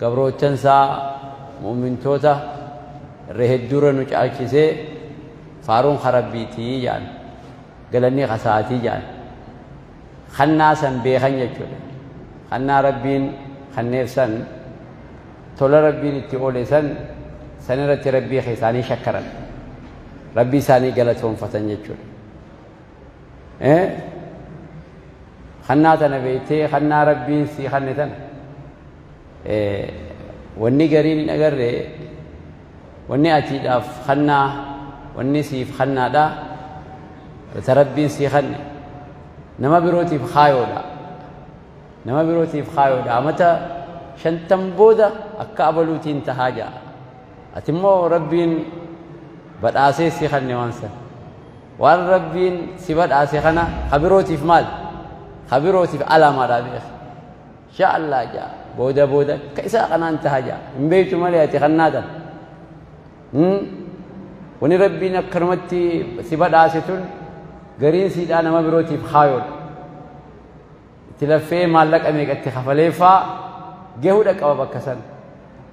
Gabroottan isaa mu'mintoota irra hedduurra nu caalchisee faaruun ka Rabbiitii jedhan. Galanni ka isaatii jedhan. Kannaa san beekan jechuudha. Kannaa Rabbiin kanneef san tola Rabbiin itti oole san san irratti Rabbii isaanii shakkaran. Rabbii isaanii galatoonfatan jechuudha. kannaa tana beektee kannaa rabbiin sii kanne tana wanni gariin hin agarre wanni atiidhaaf kannaa wanni siif kannaadha ta rabbiin sii kanne nama birootiif kaayoodha nama birootiif kaayoodha amata shantan booda akka abaluutiin tahaa ja'a ati immoo rabbiin badhaasee sii kanne waan sana Waan Rabbiin si badhaase kana ka birootiif maal? Ka birootiif alaamaadhaa beeki. Inshaa Allah jaa booda booda akka isaa kanaan taha jaa hin beektu malee ati kan naatan. Wani Rabbiin akkanumatti si badhaase tun gariin siidhaa nama birootiif kaayoodha. Itti laffee maallaqa meeqa itti kafaleeffaa gahudha qaba bakka san.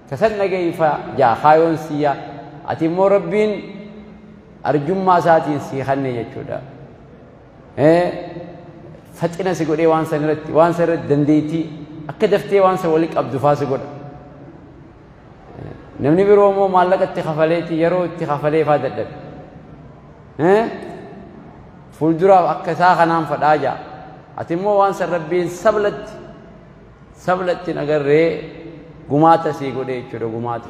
Kasan dhageeyfa jaa kaayoon siyyaa. Ati immoo Rabbiin arjummaa isaatiin sii kanne jechuudha. Faxina si godhee waan san irratti waan san irratti dandeettii akka daftee waan san walitti qabdu faa si godha. Namni biroo immoo maallaqa itti kafaleeti yeroo itti kafalee faa dadhabe. Fuulduraaf akka isaa kanaan fadhaa jaa. Ati immoo waan san rabbiin sablatti sablatti nagarree gumaata sii godhee jechuudha gumaata.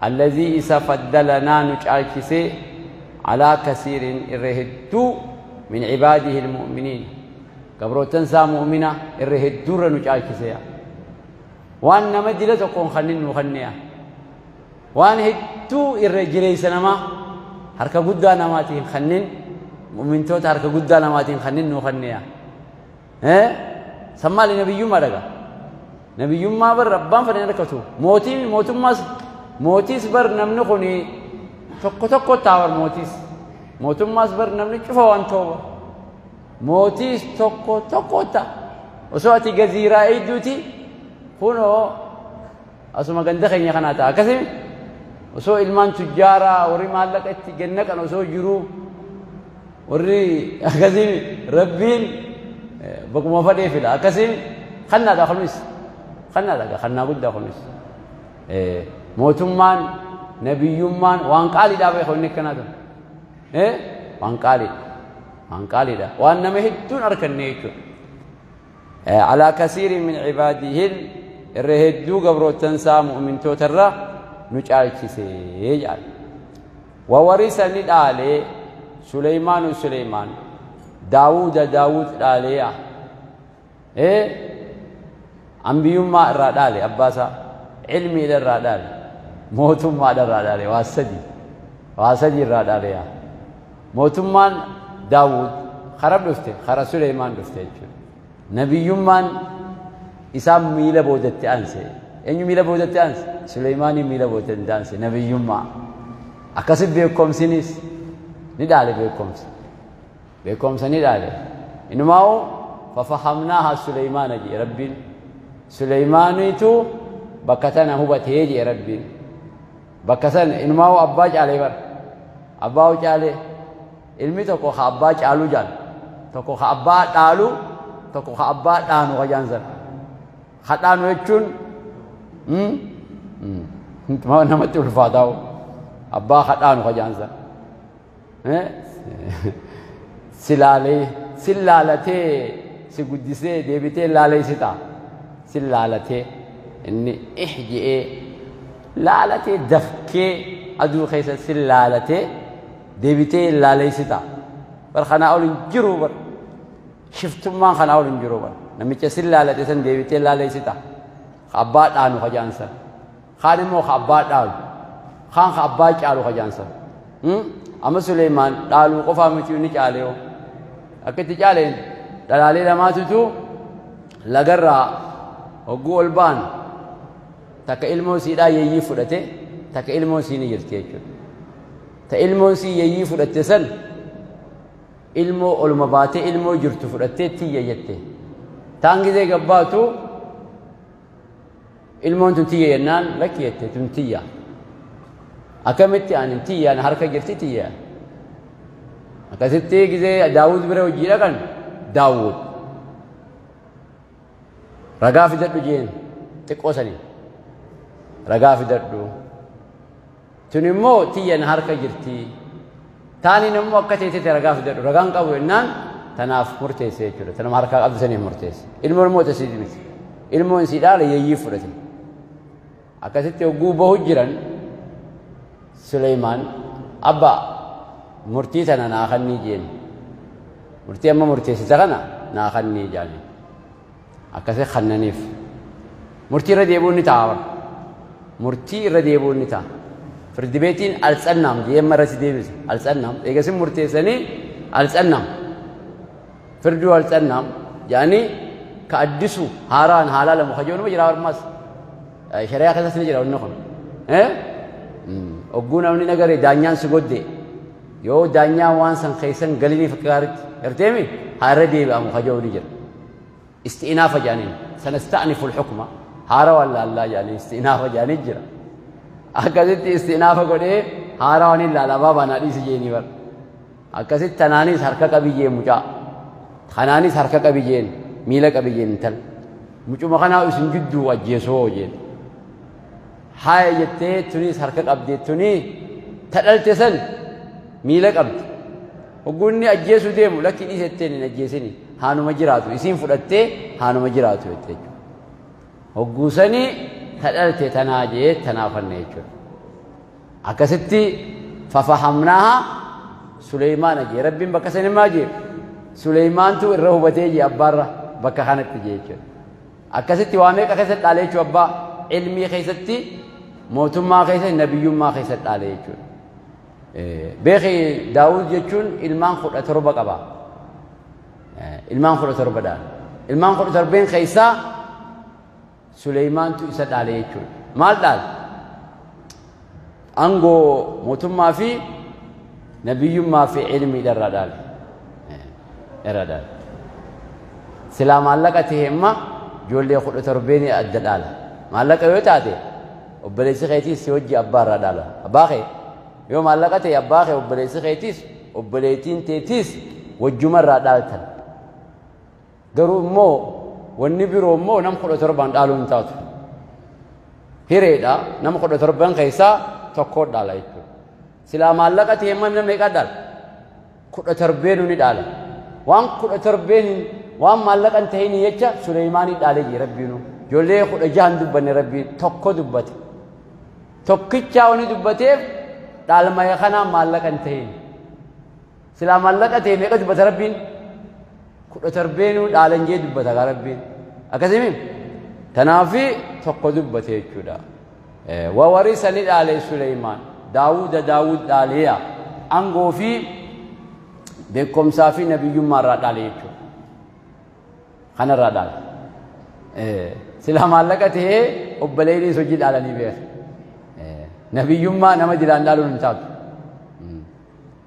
Allazii isa faddalanaa nu caalchisee alaa kasiirin irra hedduu min cibaadihi ilmu'miniina gabroottan isaa mu'mina irra hedduurra nu caalchiseya waan nama dila tokkoon kannin nu kanneya waan hedduu irra jireessa namaa harka guddaa namaatiin kannin mu'mintoota harka guddaa namaatiin kannin nu kanneya Eh? San maali nabiyyummaa dhaga? Nabiyyummaa bar abbaan fedhe hin rakkatu. Mootiin mootummaas mootiis bar namni kun tokko tokko taawar mootiis. Mootummaas bar namni cufa waan ta'uuf. Mootiis tokko tokko ta'a. Osoo ati gaziiraa eegduuti kunoo asuma ganda keenya kanaa ta'a. Akkasii osoo ilmaan tujjaaraa warri maallaqa itti ganna kan osoo jiruu Warri akkasii rabbiin bakuma fadhee fida akkasii kannaadha kunis kannaadha kannaa guddaa kunis mootummaan nabiyyummaan waan qaaliidhaa beeku inni akkanaa ture waan qaaliidha waan qaaliidha waan nama hedduun arkanne jechuudha Alaa kasiirin min cibaadihil irra hedduu gabroottan isaa mu'mintoota irra nu caalchise jedhan. Wawarisa ni dhaale Suleymaanu Suleymaan Daawuda Daawud dhaaleeya. Ee ambiyummaa irraa dhaale abbaasaa cilmiidha irraa dhaale mootummaadha irraa dhaale waa sadii waa sadii irraa dhaaleeya. Mootummaan Daawud kara dhufte kara Suleeymaan dhufte jechuudha. Nabiyyummaan isaa miila boodatti aanse. Eenyu miila boodatti aanse? Suleeymaanii miila boodatti aanse nabiyyummaa. Akkasi beekomsinis ni dhaale beekomsa. Beekomsa ni dhaale. Inumaa'u fafahamnaaha Suleeymaana jedhe Rabbiin. Suleeymaaniitu bakka tana hubatee jedhe Rabbiin. Bakka san inumaa'uu abbaa caalee bar. Abbaa hoo caalee ilmi tokko ka abbaa caaluu jaan tokko ka abbaa dhaalu tokko ka abbaa dhaanu ka jaan san. Ka dhaanu jechuun namatti ulfaataa'u abbaa ka dhaanu ka jaan san. silaalee sin laalatee si guddisee deebitee laaleessita sin laalatee inni ih je'ee laalatee dafkee aduu keessa sin laalatee deebitee laaleessita bar kanaa ol hin jiru bar shiftummaan kanaa ol hin jiru bar namicha sin laalate san deebitee laaleessita abbaa dhaanu hajaan san kaan immoo ka abbaa dhaalu kaan ka abbaa caalu ka jaansan amma Suleeymaan dhaaluu qofaa miti inni caalee hoo akka itti caaleen dhalaalee lamaatutu lagarraa hogguu ol ba'an takka ilmoo siidhaa yeeyyii fudhate takka ilmoon sii ni jirti jechuudha. Ta ilmoon sii yeeyyii fudhatte san ilmoo oluma baatee ilmoo jirtu fudhattee tiyya jette. Taan gizee gabbaatu ilmoon tun tiyya jennaan lakki jette tun tiyya akkamitti ani tiyya na harka jirti tiyya akkasitti gizee daawud bira hojii dhaqan daawud ragaa fidadhu jeen xiqqoo sanii ragaa fidadhu Tun immoo tiyya na harka jirti. Taaniin immoo akka teetetti ragaa fidadhu. Ragaan qabu jennaan tanaaf murteesse jechuudha. Tanuma harkaa qabdu saniif murteesse. Ilmoon immoo tasii miti. Ilmoon isii dhaala yeeyyii fudhate. Akkasitti hogguu bahu jiran Suleymaan abba murtii tana naa kannii jeen. Murtii amma murteessita kana naa kannii jaaniin. akkasii kannaniif murtii irra deebi'uun ni ta'a bara murtii irra deebi'uun ni ta'a firdi beetiin altsannam deemma irratti deebise altsannam eegasin murteessanii altsannam firduu altsannam yaani ka addisu haaraan haalaa lamu ka jedhu jira warmaas shari'aa keessatti ni jira wanni kun ogguu namni nagare daanyaan si godde yoo daanyaan waan san keessan galiniif akka gaaritti garteemi haa irra deebi'amu ka jedhu ni jira isti'inaafa jedhaniin sanasta'nifu lxukma haarawaan laallaa jedhanii isti'inaafa jedhanii jira akkasitti isti'inaafa godhee haarawaan hin laala abaa baanaa dhiisi jeenii bar akkasitti tanaanis harka qabiyyee mucaa kanaanis harka qabiyyeen miila qabiyyeen intal mucuma kanaa isin jidduu ajjeesoo jeeni Haaya jettee tuniis harka qabdi tuni ta dhalte san miila qabdi. Hogguu inni ajjeesuu deemu lakki dhiise jetteen hin ajjeesini haanuma jiraatu isiin fudhattee haanuma jiraatu jette jechuudha. Hogguu sani ta dhalte tanaa jee tanaa fanne jechuudha. Akkasitti fafahamnaaha Suleymaana jee rabbiin bakka sani maa jee Suleymaantu irra hubatee jee abbaarra bakka kanatti jee jechuudha. Akkasitti waa meeqa keessatti dhaale jechuudha abbaa ilmii keessatti mootummaa keessatti nabiyyummaa keessatti dhaale jechuudha. Beeki Daawud jechuun ilmaan kudha torba qaba. Ilmaan kudha torba dhaale. Ilmaan kudha torbeen keessaa Suleymaantu isa dhaale jechuudha. Maal dhaale? Angoo mootummaa fi nabiyyummaa fi ilmiidha irraa dhaale. Irraa dhaale. Silaa maallaqa ta'e imma ijoollee kudha torbeenii adda dhaala. Maallaqa yoo taate obboleessi keetiis si hojii abbaa irraa dhaala. Abbaa kee yoo maallaqa ta'e abbaa kee obboleessi keetiis obboleettiin teetiis wajjuma irraa dhaaltan. Garuu immoo wanni biroo immoo nama kudha torbaan dhaaluu hin taatu. Hireedha nama kudha torban keessaa tokko dhaala jechuudha. Silaa maallaqa ta'e immoo namni meeqa dhaala? Kudha torbeen ni dhaala. Waan kudha torbeen waan maallaqa hin ta'in jecha Suleeymaanii dhaalee jira rabbiinu. Ijoollee kudha jahan dubbanne rabbiin tokko dubbate. Tokkichaa wani dubbateef dhaalmaya kanaa maallaqa hin ta'in. Silaa maallaqa ta'e meeqa dubbata rabbiin? Kudha tarbeenuu dhaalan jee dubbata gaa rabbiin. Akkasimi? Tanaafi tokko dubbate jechuudha. Wawarisa ni dhaale Suleymaan. Daawuda Daawud dhaaleeya. Angoo fi beekumsaa fi nabiyyummaa irraa dhaale jechuudha. Kana irraa dhaale. Silaa maallaqa ta'e obboleeyyinis hojii dhaalanii beeku. Nabiyyummaa nama jiraan dhaaluun hin taatu.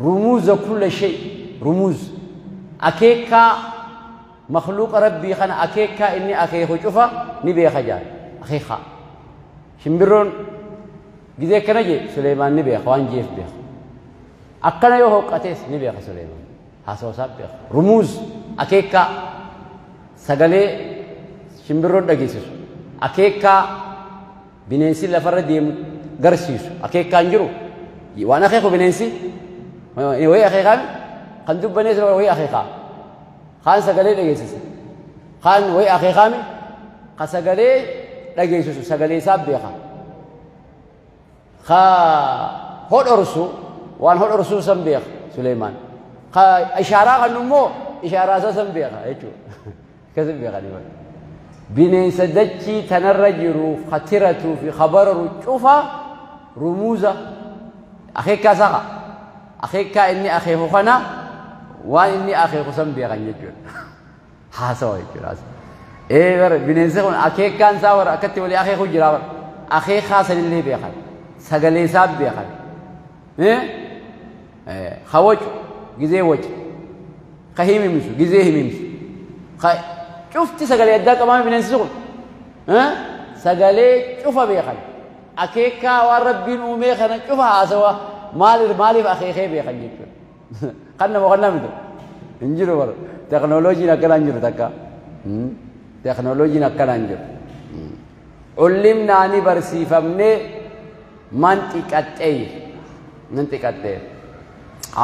Rumuuza kulla shay, rumuuz, akeekkaa makhluuqa Rabbii kana akeekkaa inni akeeku cufa ni beeka jedhan. Akeekkaa. Shimbirroon gizee akkana jee Suleeymaan ni beeka waan jeef beeka. Akkana yoo hooqqatees ni beeka Suleeymaan. Haasawa isaa beeka. Rumuuz akeekkaa sagalee shimbirroon dhageessisu. Akeekkaa Bineensi lafarra deemu garsiisu akeekkaan jiru waan akeeku bineensi wayii akeekaan kan dubbanees wayii akeekaa kaan sagalee dhageessisa kaan wayii akeekaame ka sagalee dhageessisu sagalee isaa beeka ka hodhorsu waan hodhorsuu san beeka Suleemaan ka ishaaraa kan immoo ishaaraa isaa san beeka jechuudha. Akkasii beekanii bar. Bineensa dachii tanarra jiru ka tiratuu fi ka bararu cufa rumuuza akeekaa isaa ka akeekaa inni akeeku kana waan inni akeeku san beekan jechuudha. Haasawa jechuudha. Ee bara bineensi kun akeekaan isaa bara akkatti walii akeeku jira bara akeekaa sanillee beekan sagalee isaa beekan ka wacu gizee wace ka himimsu gizee himimsu ka cufti sagalee addaa qabaame bineensi kun sagalee cufa beekan akeekaa waan rabbiin uumee kana cufa haasawa maaliif maaliif akeekee beekan jechuudha kan nama kan namni hin jiru bara teknooloojiin akkanaa hin jiru takka teknooloojiin akkanaa hin jiru. Cullimnaa ni barsiifamne manxiqaxxeeyr. Manxiqaxxeeyr.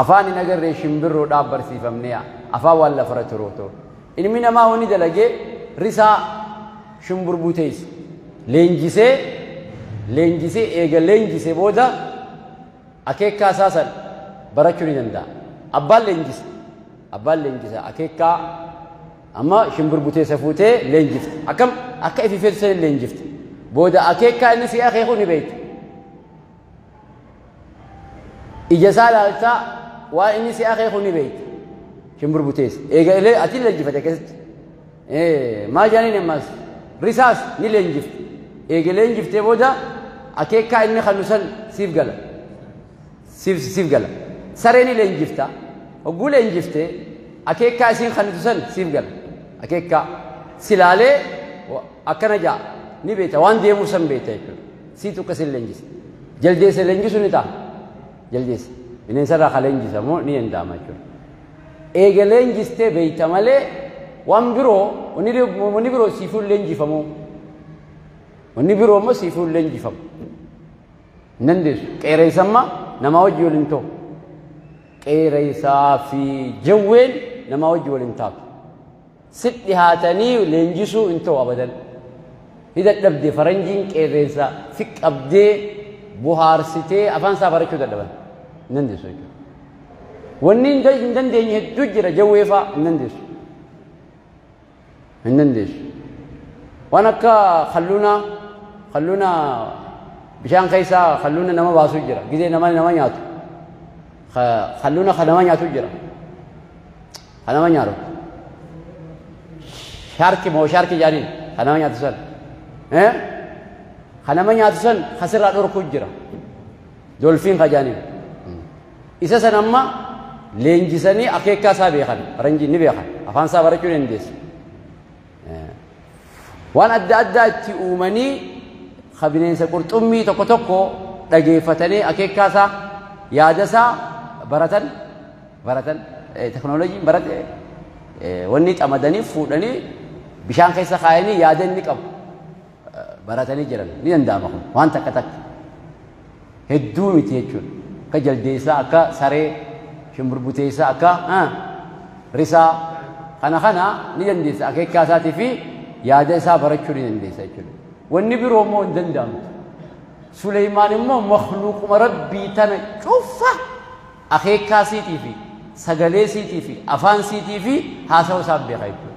Afaan hin agarree shimbirroodhaaf barsiifamne afaan waan lafarra turootu. Ilmi namaa wani dalagee risaa shimburbuu teessu. Leenjisee leenjisee eega leenjisee booda akeekkaa isaa san barachuu ni danda'a. Abbaan leenjisa. Abbaan leenjisa akeekkaa Amma shimbir buteessa fuutee leenjifte. Akkam akka ifi feetu sana leenjifte. Booda akeekaa inni si akeeku ni beekta. Ija isaa ilaaltaa waan inni si akeeku ni beekta. Shimbir buteessa. Eega illee ati leenjifate keessatti. Maal jedhaniin ammas risaas ni leenjifte. Eega leenjiftee booda akeekaa inni kanu san siif gala. Siif siif gala. Saree ni leenjifta. Hogguu leenjifte akeekkaa isiin kannitu san siif gala. Akeekkaa si laalee wa- akkana ja'a ni beekta waan deemuu san beekta jechuudha. Siitu akka isin leenjisa. Jaldeessa leenjisuu ni ta'a. Jaldeessa. Bineensarraa kan leenjisa moo ni danda'ama jechuudha. Eega leenjistee beekta malee waan biroo wanni biroo- wanni biroo siifuu hin leenjifamu. Wanni biroo immoo siifuu hin leenjifamu. Hin dandeessu. Qeeraysa amma namaa wajji wal hin ta'u. Qeeraysaa fi jawween namaa wajji wal hin taatu. Si dhihaatanii leenjisuu hin ta'u abadan. Ni dadhabde faranjiin qeerreensa si qabdee buhaarsitee afaan isaa barachuu dadhaban. Hin dandeessu jechuudha. Wanni hin dandeenye hedduu jira jawweefaa hin dandeessu. hin dandeessu waan akka kalluunaa kalluuna bishaan keessaa kalluuna nama baasu jira gizee nama nama nyaatu kalluuna kan nama nyaatu jira kan nama nyaatu shaarki moo shaarki jaaniin kan nama nyaatu san kan nama nyaatu san kasirraa dhorku jira dolfiin ka jaaniin Isa san amma leenjisanii akeekkaa isaa beekan faranjiin ni beekan afaan isaa barachuu dandeessi. Waan adda addaa itti uumanii ka bineensa qurxummii tokko tokko dhageeffatanii akeekkaa isaa yaada isaa baratan baratan teknooloojiin barate wanni xamadanii fuudhanii bishaan keessa kaayanii yaada inni qabu. baratanii jiran ni danda'ama kun waan takka takka hedduu miti jechuudha akka jaldeessaa akka saree shimburbuteessaa akka risaa kana kana ni dandeessa akeekaa isaatii fi yaada isaa barachuu ni dandeessa jechuudha wanni biroo immoo hin danda'amtu Suleymaan immoo makluuquma rabbii tana cufa akeekaa siitii fi sagalee siitii fi afaan siitii fi haasawa isaa beeka jechuudha.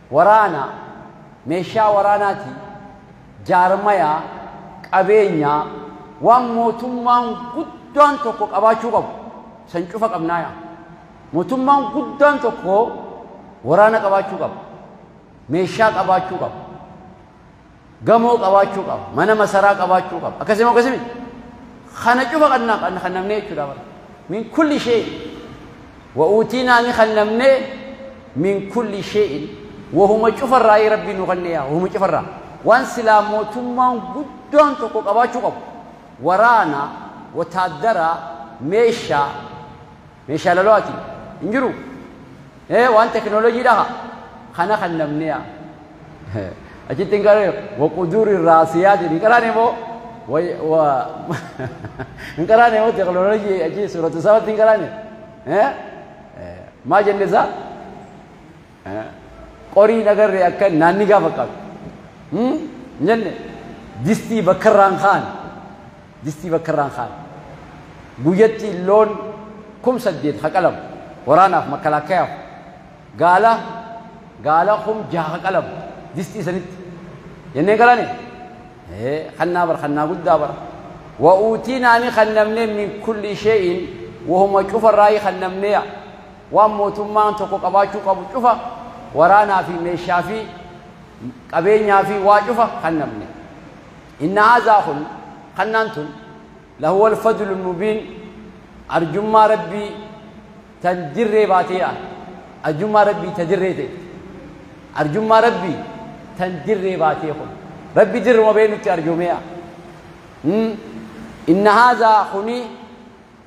Waraana, meeshaa waraanaati, jaarmaya, qabeenya, waan mootummaan guddaan tokko qabaachuu qabu san cufa qabnaaya. Mootummaan guddaan tokko waraana qabaachuu qaba. Meeshaa qabaachuu qaba. Gamoo qabaachuu qaba. Mana masaraa qabaachuu qaba. Akkasii moo akkasii miti? Kana cufa kan na- kan kan namnee jechuudha bara. Min kulli shee. Wa uutiinaa ni kan namnee min kulli shee'in. Wahuma cufarraa ee rabbii nu kannee yaa. Wahuma cufarraa. Waan silaa mootummaan guddaan tokko qabaachuu qabu. Waraana, wataaddaraa, meeshaa, Meeshaa lolaati hin jiru. Ee waan teknoolojii dhaha kana kan namni yaa. Achitti hin qaree waquduuri raasiyaati hin qaraane moo hin qaraane moo teknoolojii achi suuratu sabatti hin qaraane. Maa jenne isaa Qorii hin agarre akka naannigaa fakkaatu. Hin jenne distii bakkarraan ka'an. Distii bakkarraan ka'an. Guyyatti loon kum saddeet haqalamu. Waraanaaf makkalaakkayaaf. Gaala gaala kum jaha haqalamu. Distii sanitti. Jennee galane. Kannaa bara kannaa guddaa bara. Wa'uutii naani kannamnee min kulli shee'in wahuma cufarraayii kannamneeya. Waan mootummaan tokko qabaachuu qabu cufa waraanaa fi meeshaa fi qabeenyaa fi waa cufa kannamne. Inna haazaa kun kannaan tun lahuwal fadlu mubiin arjummaa rabbii tan dirree baateedha. Arjummaa rabbii ta dirree ta'e. Arjummaa rabbii tan dirree baatee kun. Rabbi dirruma bee nutti arjoomee'a. Inna haazaa kuni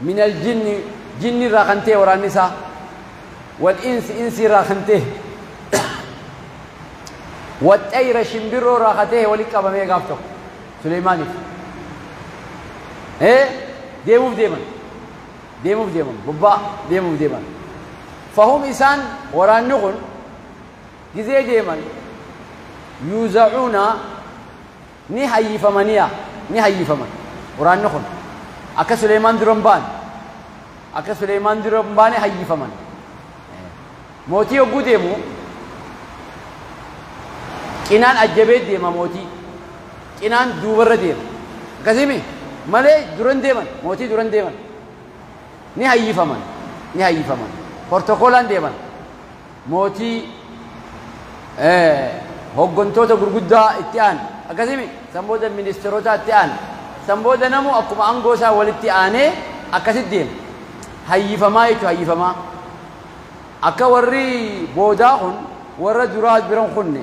minal jinni jinni irraa kan ta'e waraanni isaa wal insi insi irraa kan ta'e waxxayra shimbirroo irraa kan ta'e walitti qabamee gaaf tokko Suleymaaniif ee deemuuf deeman deemuuf deeman bobbaa deemuuf deeman fahum isaan waraanni kun gizee deeman yuuzacuuna Ni hayyifama niya ni hayyifama quraanni kun akka suleeymaan dura hin baane akka suleeymaan dura hin baane hayyifaman mootii yogguu deemu cinaan ajjabee deema mootii cinaan duubarra deema akkasimi malee duran deeman mootii duran deeman ni hayyifaman ni hayyifaman portokoolaan deeman Mootii, ee, hooggantoota gurguddaa itti aana. Akkasii miti? San booda ministeerotaa itti aana. San booda namuu akkuma aangoo isaa walitti aanee akkasitti deema. Hayyifamaa jechuun hayyifamaa. Akka warri boodaa kun warra duraa bira hin kunne.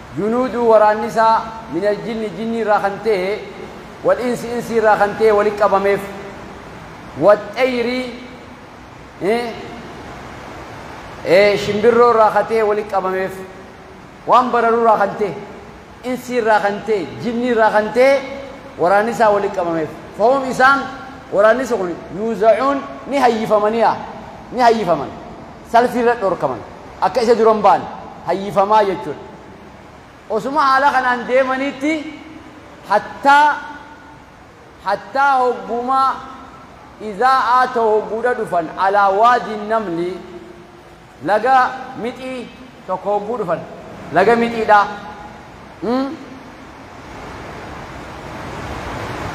Junuuduu waraanni isaa minal jinni jinnii irraa kan ta'e wal insi insii irraa kan ta'e walitti qabameef. Wat xayri shimbirroo irraa kan ta'e walitti qabameef. Waan bararuu irraa kan ta'e insii irraa kan ta'e jinnii irraa kan ta'e waraanni isaa walitti qabameef. Fahum isaan waraanni isa kun yuuzacuun ni hayyifamani'a ni hayyifaman. salfii irra dhorkaman akka isa duran ba'an hayyifamaa jechuudha. Osuma haala kanaan deemaniitti hattaa hattaa hoggumaa izaa'aa ta'u hogguudha dhufan alaa waadiin namli laga mixii tokko hogguu dhufan laga mixiidha.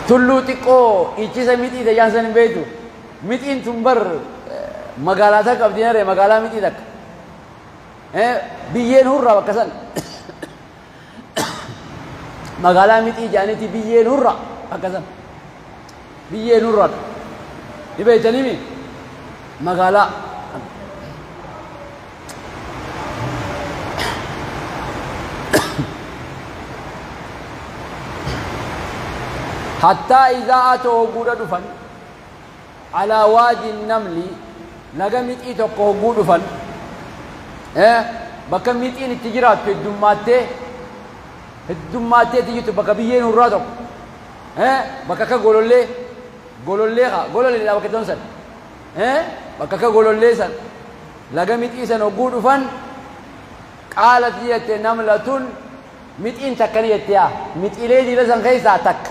Tulluu xiqqoo ichisa mixii tayyaan san hin beektu. Mixiin tun bar magaalaa takka qabdi naree magaalaa mixii takka. Eh, Biyyeen hurraa bakka san. Magaalaa mixii jaanitii biyyeen hurraa bakka san. Biyyeen hurraa. Ni beektanii mi? Magaalaa. Hattaa izaa'aa ta'oo guudha dhufan. Alaa waadi namli laga mixii tokko hogguu dhufan bakka mixiin itti jiraattu heddummaattee heddummaatteetti jirtu bakka biyyeen hurraa tokko bakka akka golollee golollee haa gololleedha bakka ta'an san bakka akka golollee san laga mixii san hogguu dhufan qaalatti jette namlatun mixiin takka ni jette yaa mixiilee diila san keessaa takka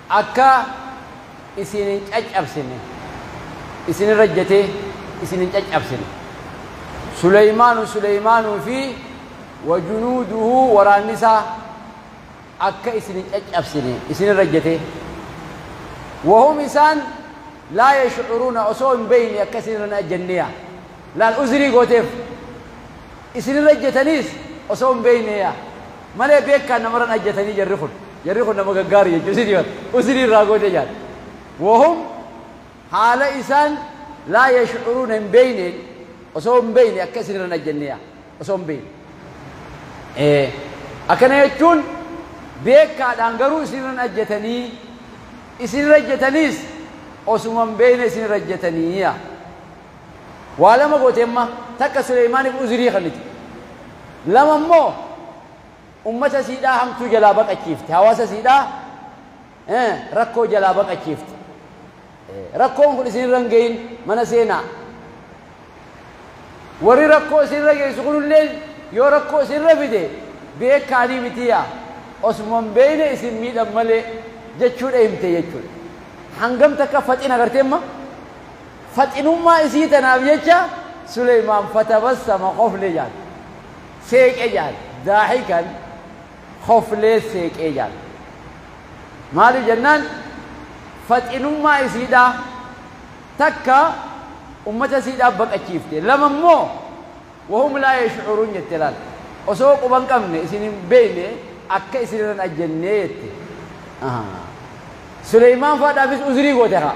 Akka isin hin caccabsine, isin irra ejjetee isin hin caccabsine. Suleymaanu, Suleymaanuu fi wa junuuduhu, waraanni isaa, akka isin hin caccabsine, isin irra ejjetee. Wa hum isaan laa yash'uruuna, osoo hin beeyne akka isin irra hin ajjenne yaa. Laal uzrii gooteef. Isin irra ejjetaniis osoo hin beeyne yaa. Malee beekkaan namaran ajjatanii jarri kun jarri kun nama gaggaari jechu isin bar usini irraa goodee jaal wahum haala isaan laa yashcuruuna hin beeyneen osoo hin beeyne akka isin irran ajjannee yaa osoo hin beeyne ee akkana jechuun beekkaadhaan garuu isin irran ajjatanii isin irra ajjataniis osuma hin beeyne isin irra ajjatanii yaa Waa lama goote amma, takka Suleymaaniif uzrii kennite. Lama immoo ummata isiidhaa hamtuu jalaa baqachiifte, hawaasa isiidhaa rakkoo jalaa baqachiifte. Rakkoon kun isinirra hin gahin mana seenaa. Warri rakkoo isinirra geessu kunillee yoo rakkoo isinirra fide beekaanii miti yaa osuma hin beekne isin miidhan malee jechuudha himte jechuudha. Hangam takka faxina agartee amma? Faxinummaa isii tanaaf jecha Suleymaan fatabassama khofle jaan. Seeqe jaan. Daahikan khoflee seeqee jaan. Maaliif jennaan faxinummaa isiidhaa takka ummata isiidhaa baqachiifte. Lama immoo wahum laa yash'uruun jette laal. Osoo quba hin qabne isin hin beeyne akka isin irra hin ajjannee jette. Suleymaan faadhaafis uzrii goote kaa.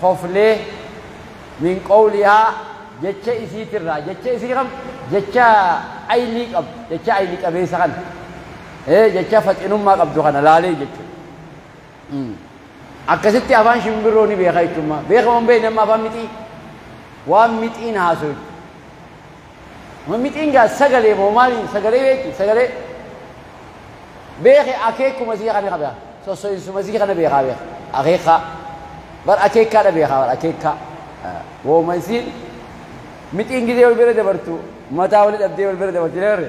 koflee, min qowlihaa, jecha isiitirraa, jecha isii kam? Jecha aylii qabdu, jecha ayli qabeessa kana, ee jecha faxinummaa qabdu kana laalee jechuudha. Akkasitti afaan shimbirroo ni beeka jechuummaa. Beeka moo hin beekne amma afaan mixii? Waan mixiin haasoytu. Mamixiin gaa sagalee moo maaliin sagalee beekti sagalee beeke akeekkuma isii kana beeka sosso'insuma isii kana beekaa beeka akeekkaa bar akeekkaa dha beekaa bar akeekkaa wooma isiin mixiin gidee wal bira dabartu mataa wali dhabdee wal bira dabarti leerre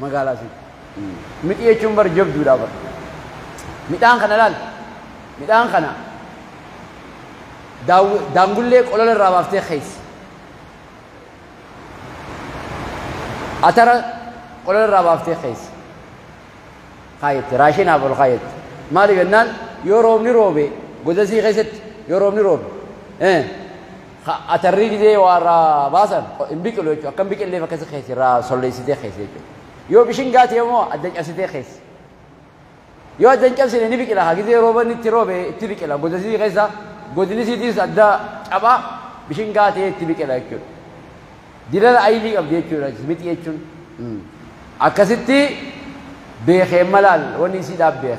magaalaa si midhi jechuun bar jabduudha bar midhaan kana laal midhaan kana daaww- daangullee qolola irraa baaftee keessa atara qolola irraa baaftee keessa kaayetti raashinaaf ol kaayetti maaliif jennaan yoo roobni roobe godasii keessatti yoo roobni roobe eh, Ka atarrii gizee waa irraa baasan hin biqilu jechuudha. Akka hin biqilleef akkasi keessi irraa solleessitee keessi jechuudha. Yoo bishingaa ta'e immoo adda cabsitee keessi. Yoo adda hin cabsine ni biqila. Haa gizee rooban itti roobe itti biqila. Godasii keessa godinisiitis adda cabaa bishingaa ta'ee itti biqila jechuudha. Dilala ayilii qabdi jechuudha mixi jechuun. Akkasitti beekee malaan wanni isii dhaabbeef.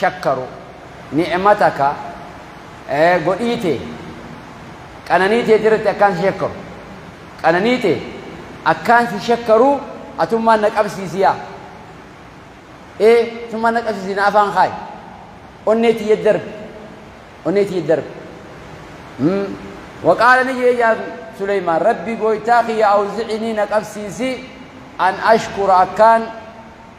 shakkaru ni'mata ka godhii tee qananii teeti irratti akkaan si shakkaru qananii tee akkaan si shakkaru atummaan na qabsiisi yaa ee atummaan na qabsiisi na afaan kaayi onnee tiyya darbi onnee tiyya darbi waqaala ni jee yaa suleymaan rabbi gooytaa kiyya awzicinii na qabsiisi an ashkura akkaan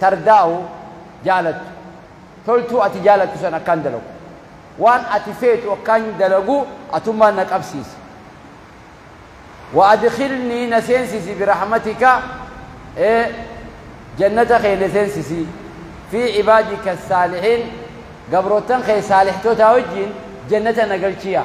Tardaawu jaalattu. Toltuu ati jaalattu san akkaan dalagu. Waan ati feetu akkaan dalagu atummaan na qabsiisi. Wa adkhilnii na seensisi birahmatika jannata kee na seensisi. Fii cibaadika saalihiin gabroottan kee saalihtotaa wajjiin jannata na galchi yaa.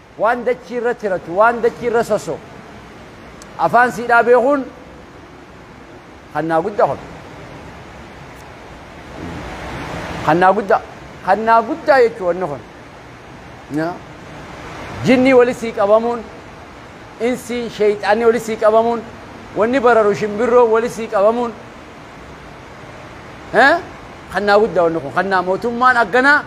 Waan dachii irra tiratu, waan dachii irra sossoo'u afaan siidhaa beekuun kannaa guddaa kun. Kannaa guddaa. Kannaa guddaa jechuun wanni kun. Jinnii wali sii qabamuun, insii, sheeyxaanni wali sii qabamuun, wanni bararu shimbirroo wali sii qabamuun. Kannaa guddaa wanni kun. Kannaa mootummaan akkanaa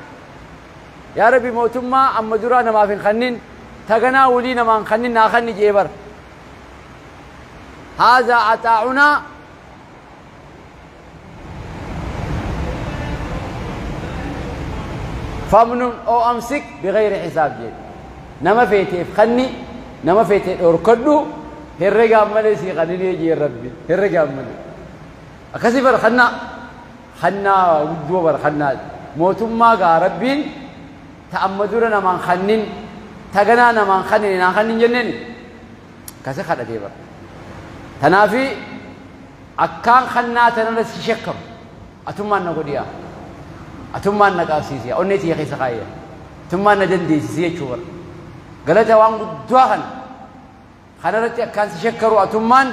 Yaa rabbi mootummaa amma duraa namaaf hin kannin taganaa wulii namaa hin kannin naa kanni je'e bar haazaa axaa'unaa famnun oo amsik bigayri hisaab je'e nama feeteef kanni nama feete dhorkadhu herregaan malee sii kanninee je'e rabbi herregaan malee akkasii bar kannaa Hannaa guddoo bar hannaa mootummaa gaa rabbiin ta amma dura namaan kannin ta ganaa namaan kannine naa kannin jenneni kase kadhatee bar tanaafi akkaan kannaa tanarra si shakkam atummaan na godhiya atummaan na qaabsiisiya onnee tiyya keessa kaayya atummaan na dandeessisi jechuu bar galata waan guddaa kana Kanaratti akkaan si shakkaru atummaan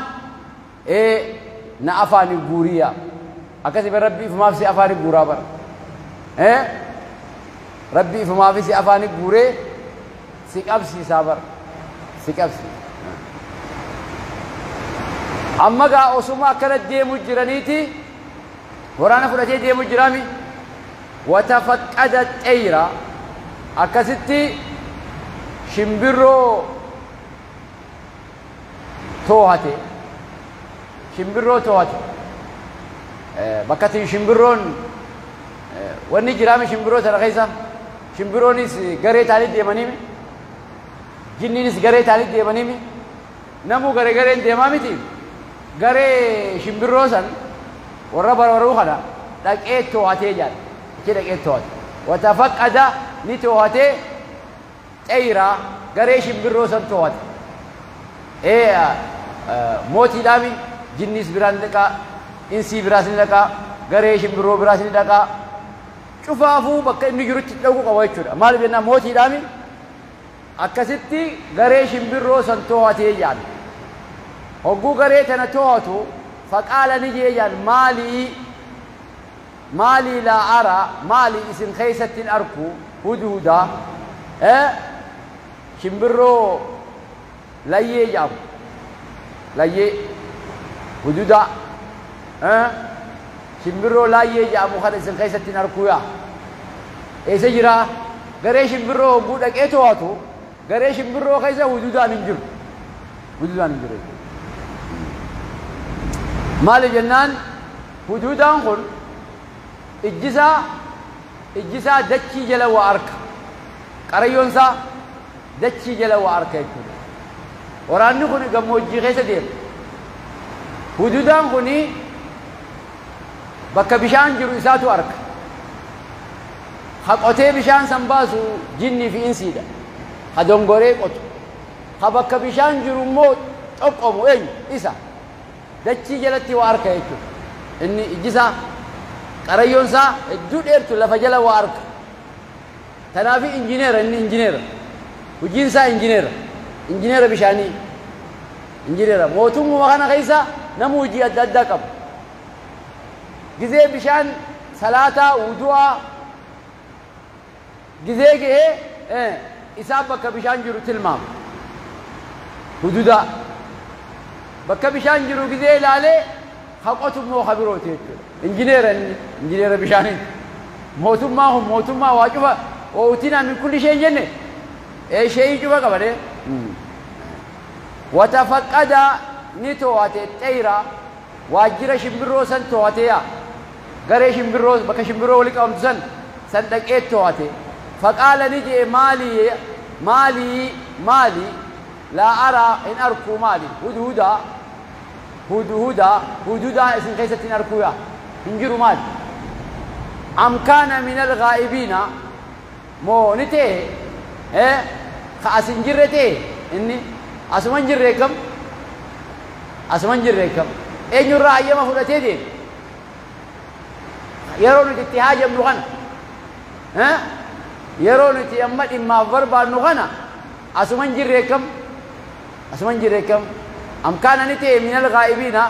ee na afaani guurii yaa akkasi bar rabbi ifumaaf si afaani guuraa bar ee rabbi ifumaafi si afaani guuree si qabsiisaa bar si qabsi amma gaa osuma akkana deemu jiraniiti waraana fudhatee deemu jiraami watafaqqada xeyra akkasitti shimbirroo toohate shimbirroo toohate bakka itti shimbirroon wanni jiraame shimbirroo sana keessa shimbirroonis garee taanii deemaniimi jinniinis garee taanii deemaniimi namuu garee gareen deemaa miti garee shimbirroo san warra barbaruu kana dhaqee toohatee jaal achi dhaqee toohate watafaqqada ni toohatee Xeyra, garee shimbirroo san too'ata. Ee mootiidhaami, jinniis biraa ni dhaqa, insii biraas ni dhaqa, garee shimbirroo biraas ni dhaqa. Cufaafuu bakka inni jirutti dhaquu qaba jechuudha. Maaliif jennaan mootiidhaami akkasitti garee shimbirroo san too'atee jaan. Hogguu garee tana too'atu faqaala ni jee jaan maalii Maalii laa ara maali isin keessatti hin arku hudhuuda e shimbirroo layyee jedhamu layyee hududa e shimbirroo laayyee jedhamu kana isin keessatti hin arkuu yaa eessa jiraa garee shimbirroo hogguu dhaqee to'atu Garee shimbirroo keessa hududaan hin jiru. Hududaan hin jiru. Maali jennaan hududaan kun ijjisaa ijjisaa dachii jala waa arka. Qarayyoon isaa dachii jala waa arka jechuudha. Waraanni kun gammoojjii keessa deema. Hududaan kun bakka bishaan jiru isaatu arka. Ka qotee bishaan san baasu jinnii fi insiidha. Ka dongoree qotu. Ka bakka bishaan jiru immoo xoqqomu eenyu? Isa. Dachii jalatti waa arka jechuudha. Inni ijji isaa, qarayyoon isaa hedduu dheertu lafa jala waa arka. Tanaafi injineera inni injineera. Hujiin isaa injineera. Injineera bishaanii. Injineera. Mootummuma kana keessa namuu hujii adda addaa qaba. Gizee bishaan salaataa, wudu'aa, gizee ga'ee isaa bakka bishaan jiru tilmaama. Hududaa. Bakka bishaan jiru gizee ilaalee ha qotu immoo ha birooti jechuudha. Injineera inni, injineera bishaanii. Mootummaa kun mootummaa waa cufa ootinaa min kulli ishee hin jenne ee sheeyii cufa qaba dee. Watafaqqada ni to'ate xeyra Waajjira shimbirroo san toohatee yaa. Garee shimbirroo bakka shimbirroo wali qabamtu san san dhaqee toohate. Faqaala ni je'e maali maali maali laa araa hin arkuu maali hudhudaa hudhudaa hudhudaa isin keessatti hin arkuu yaa hin jiru maali. Am kaana minal ghaa'ibiina Moo ni ta'e ee ka as hin jirre ta'e inni asuma hin jirre eeggam asuma hin jirre eeggam eenyu irraa hayyama fudhatee deeme yeroo nuti itti haajamnu kana ee yeroo nuti amma dhimmaaf barbaadnu kana asuma hin jirre eeggam asuma hin jirre eeggam am kaana ni ta'e minal gaa'ibiina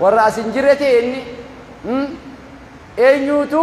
warra as hin jirre ta'e inni eenyuutu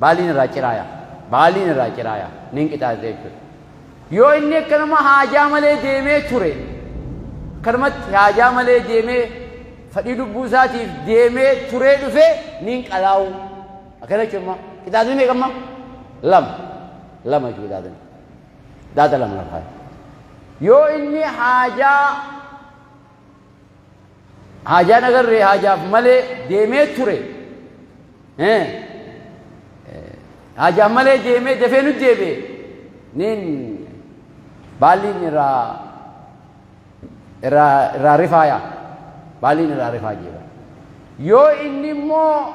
Baaliin irraa ciraaya. Baaliin irraa ciraaya. Nin qixaate jechuudha. Yoo inni akkanuma haajaa malee deemee ture, akkanumatti haajaa malee deemee fadhii lubbuu isaatiif deemee turee dhufee nin qalaa'u. Akkana jechuun immoo qixaatni meeqa amma? Lama. Lama jechuudha qixaatni. Qixaata lama lafa. Yoo inni haajaa Haajaan agarree haajaaf malee deemee ture. Haajaan malee deemee dafee nu deebi'e. Niin baalliin irraa irraa irraa rifaaya. Baalliin irraa rifaa jeeba. Yoo inni immoo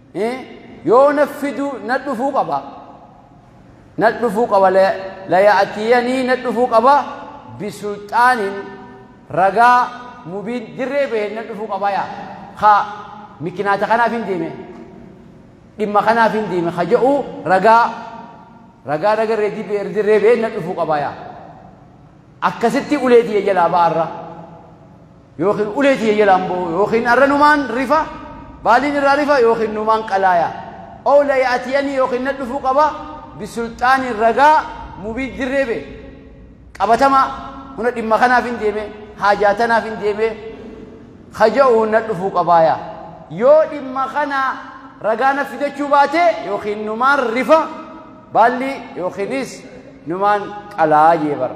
yoo na fidu na dhufuu qaba na dhufuu qaba laya'atiyanii na dhufuu qaba bisulxaanin ragaa mubiin dirree bahe na dhufuu qaba yaa ha mikinaata kanaaf hin deeme dhimma kanaaf hin deeme ha jedhu ragaa ragaa nagarree dirree bahe na dhufuu qaba yaa akkasitti ulee tiyya jalaa ba'arra yookiin ulee tiyya jalaan bo'u yookiin arra numaan rifa baaliin irraa rifa yookiin numaan qalaaya ow la ya'tiyanii yookiin na dhufuu qaba bisulxaaniin ragaa mubiin dirree bee qabatamaa huna dhimma kanaaf hin deeme haajaa tanaaf hin deeme haja'uu na dhufuu qabaaya yoo dhimma kana ragaa na fidachuu baate yookiin numaan rifa baalli yookiinis numaan qalaa jee bara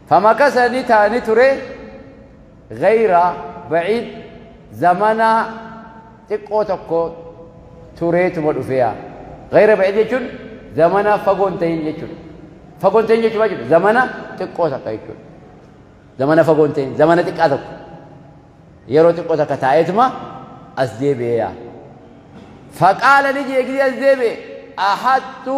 Famakasa ni ta'a ni ture gayra baciid zamana xiqqoo tokko tureetuma dhufeya. Gayra baciid jechuun zamana fagoo hin ta'in jechuudha. Fagoo hin ta'in jechuudha jechuudha. Zamana xiqqoo takka jechuudha. Zamana fagoo hin ta'in zamana xiqqaa tokko. Yeroo xiqqoo takka taa'eetuma as deebi'eya. Faqaala ni jee gidii as deebi'e ahattu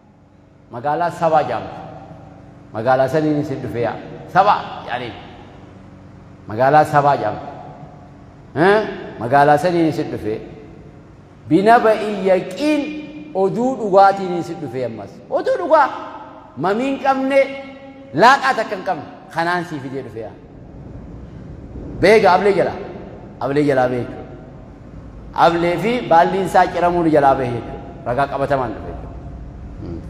Magaalaa Sabaa jaamtu. Magaalaa saniin isin dhufee yaa. Sabaa jaaniin. Magaalaa Sabaa jaamtu. Magaalaa saniin isin dhufee. Binaba iyyaqiin oduu dhugaatiin isin dhufee ammas. Oduu dhugaa mamii hin qabne laaqaa takka hin qabne kanaan sii fidee dhufee yaa. Beega ablee jalaa. Ablee jalaa beeku. Ablee fi baalliin isaa ciramuu ni jalaa bahe jechuudha. Ragaa qabatamaan dhufe jechuudha.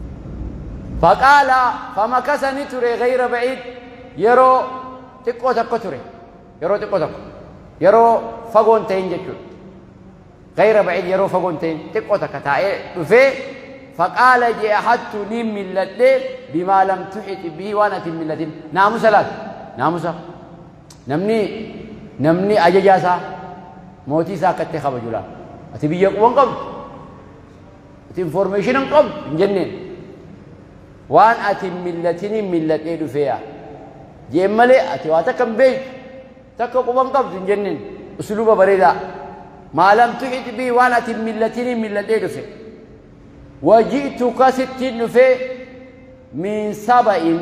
Faqaala famakasa ni ture gayra ba'iid yeroo xiqqoo tokko ture. Yeroo xiqqoo tokko. Yeroo fagoo hin ta'in jechuudha. Gayra ba'iid yeroo fagoo hin ta'in xiqqoo takka taa'ee dhufee faqaala je'a hattu ni milladhee bimaa lam tuxixi bihi waan ati hin milladhin. Naamusa laata? Naamusa. Namni namni ajajaa isaa mootii isaa akka itti kabaju laata. Ati biyya quba hin qabdu. Ati information hin qabdu hin jenneen. Waan ati hin millatiniin milladhee dhufee yaa. Jeen malee ati waa takka hin beektu. Takka quba hin qabdu hin jenneen. Usuluba bareedaa. Maalam tuxit bii waan ati hin millatiniin milladhee dhufe. Waji'tuka sittiin dhufee min saba'in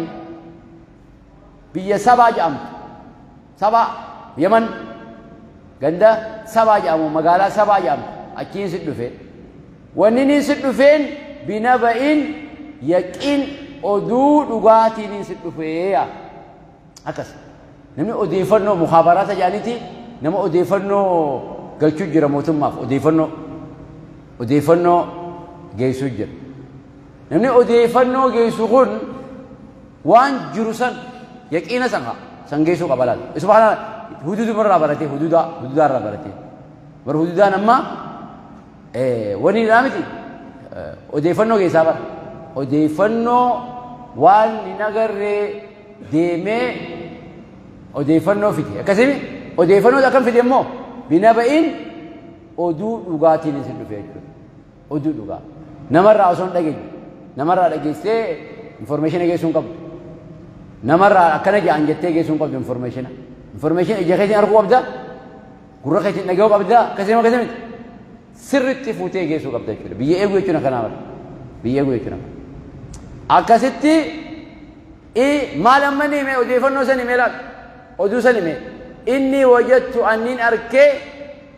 Biyya Sabaa jedhamtu. Sabaa, Yaman. Ganda Sabaa jedhamu, magaalaa Sabaa jedhamtu. Achiin si dhufe. Wanni niin si dhufeen binaba'iin yaqiin oduu dhugaatiin niin si dhufee yaa. Akkas. Namni odeeffannoo mukhaabaraata jedhaniiti nama odeeffannoo galchuu jira mootummaaf odeeffannoo odeeffannoo geessuu jira. Namni odeeffannoo geessu kun waan jiru san yaqiina san haa san geessuu qaba laal. Isuma kana huduuduma irraa baratee huduudaa huduudaa irraa baratee. Bar huduudaan amma wani irraa miti odeeffannoo keessaa bara. Odeeffannoo waan hin agarree deemee odeeffannoo fide. Akkasimi odeeffannoo akkam fide immoo binaba'iin oduu dhugaatiin isin dhufe jechuudha. Oduu dhugaa. Namarraa osoo hin dhageenye. Namarraa dhageessee informeeshina geessuu hin qabdu. Namarraa akkana jedhan jettee geessuu hin qabdu informeeshina. Informeeshina ija keetiin arguu qabda. Gurra keetiin dhaga'uu qabda. Akkasii nama akkasii miti. Sirriitti fuutee geessuu qabda jechuudha. Biyya eeguu jechuun akkanaa mala. Biyya eeguu jechuun akkanaa. Akkasitti maal amma ni hime odeeffannoo san hime laata? Oduu san hime. Inni wajattu anniin arkee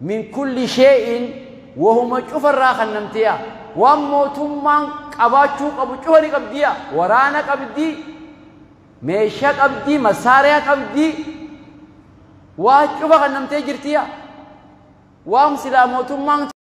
min kulli shee'in wahuma cufarraa kannamteeya waan mootummaan qabaachuu qabu cufa ni qabdiya waraana qabdi meesha qabdi masaariya qabdi waa cufa kannamtee jirtiya waan silaa mootummaan